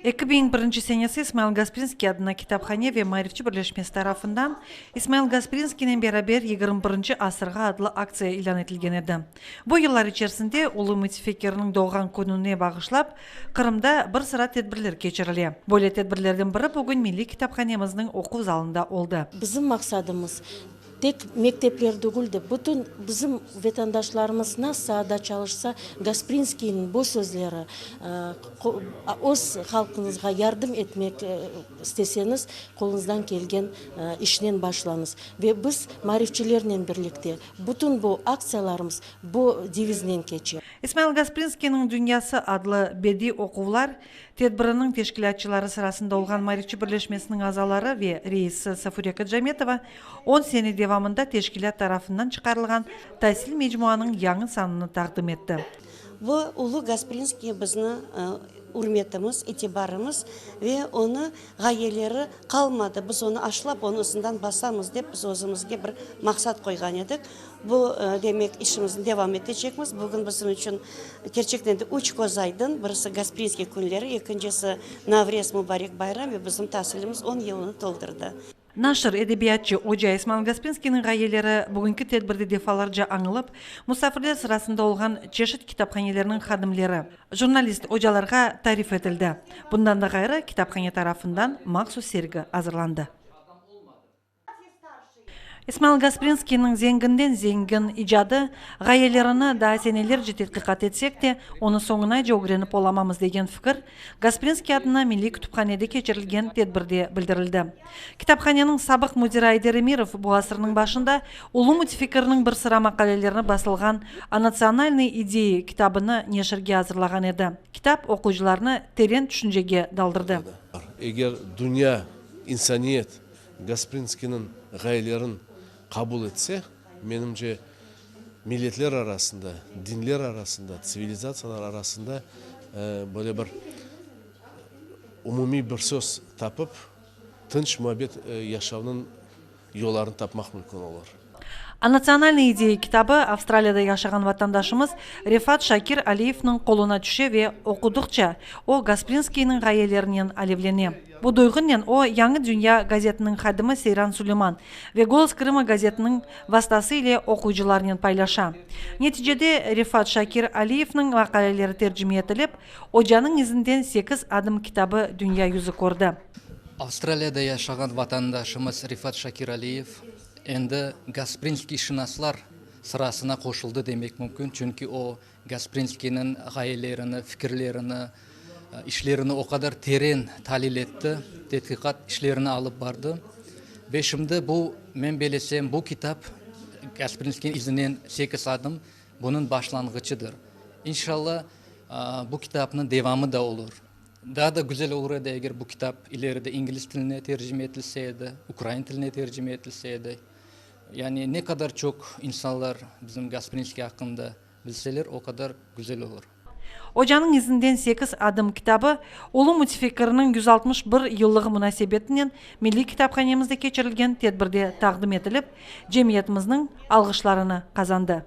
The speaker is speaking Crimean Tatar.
Eki biñ birinci senesi İsmail Gasprinskiy adına kitaphane ve maarifçi birleşmesi tarafından İsmail Gasprinskiynen beraber yigirmi birinci asırğa adlı aktsiya ilân etilgen edi. Bu yıllar içerisinde ulu mütfekirniñ doğğan kününe bağışlap, Qırımda bir sıra tedbirler keçirile. Böyle tedbirlerden biri bugün milliy kitaphanemizniñ oquv zalında oldı. Bizim maqsadımız, Tek mektepler degil de, bütün bizim vetandaşlarımız nas saada çalışsa, Gasprinskiyniñ bu sözleri, öz halqıñızğa yardım etmek isteseñiz, qoluñızdan kelgen işnen başlañız. Ve biz maarifçilernen birlikte bütün bu aktsiyalarımız bu deviznen keçe. İsmail Gasprinskiyniñ dünyası adlı bediy oquvlar Tedbiriniñ teşkilâtçıları sırasında olğan Marifçi birleşmesiniñ azaları ve reisi Safure Kacametova on sene devamında teşkilât tarafından çıqarılğan tasil mecmuanıñ yañı sanını taqdim etti. Bu Ulu Gasprinskiye bizni ürmetimiz, itibarımız ve onı Ğayeleri qalmadı, biz onı aşlap, onı ısından basamız dep, biz özümizge bir maqsat qoyğan edik. Bu, demek, işimizni devam etecekmiz. Bugün bizim içün, kerçekten de, üç köz aydın, birisi, Gasprinskiy künleri, ekincisi, Navrez, Mubarek bayram, ve bizim tasilimiz on yılını toldurdı. Naşir, edebiyatçı oca İsmail Gaspinskiyniñ ğayeleri bugünki tedbirde defalarca añılıp, musafirler sırasında olğan çeşit kitaphanelerniñ hadimleri, jurnalist ocalarğa tarif etildi. Bundan da ğayrı, kitaphane tarafından mahsus sergi azırlandı. İsmail Gasprinskiyniñ zenginden zengin icadı ğayelerini daa senelerce tedqiqat etsek de, onı soñunace ögrenip olamamız degen fikir Gasprinskiy adına Milliy kütüphanede keçirilgen tedbirde bildirildi. Kitaphaneniñ sabıq müdiri Ayder Emirov bu asırnıñ başında ulu mütfikirniñ bir sıra maqalelerni basılğan O natsionalnıy ideyi kitabını neşirge azırlağan edi. Kitap oquyıcılarnı teren tüşüncege daldırdı. Eger dünya, insaniyet Gasprinskiyniñ ğayelerin qabul etse, Menimce, milletler arasında, dinler arasında, tsivilizatsiyalar arasında böyle bir umumiy bir söz tapıp, tınç muabbet yaşavnıñ yollarını tapmaq mümkün olur. A Natsionalnıy ideya kitabı Avstraliyada yaşağan vatandaşımız Refat Şakir Aliyevniñ qoluna tüşe ve oqudıqça, o Gasprinskiyniñ ğayelerinen alevlene. Bu duyğunnen o, Yañı dünya gazetiniñ hadimi Seyran Suleyman ve Golos Krıma gazetiniñ vastası ile oquyıcılarınen paylaşa. Neticede, Refat Şakir Aliyevniñ maqaleleri tercime etilip, Ocanıñ izinden sekiz adım kitabı dünya yüzü kördi. Avstraliyada yaşağan vatandaşımız Refat Şakir Aliyev endi gasprinskiyşınaslar sırasına qoşuldı demek mümkün, çünki o, Gasprinskiyniñ ğayelerini, fikirlerini, işlerini o qadar teren talil etti, tedqiqat işlerini alıp bardı. Ve şimdi bu, men belesem, bu kitap Gasprinskiyniñ izinen sekiz adım, bunıñ başlanğıçıdır. İnşalla, bu kitapnıñ devamı da olur. Daa da güzel olur edi, eger bu kitap ileride ingliz tiline tercime etilse edi, ukrain tiline tercime etilse edi. Yani ne qadar çoq insanlar bizim Gasprinskiy aqqında bilseler, o qadar güzel olur. Ocanıñ izinden sekiz adım kitabı, ulu mütfikkirniñ yüz altmış bir yıllığı munasebetinen Milliy kitaphanemizde keçirilgen tedbirde taqdim etilip, cemiyetimizniñ alğışlarını qazandı.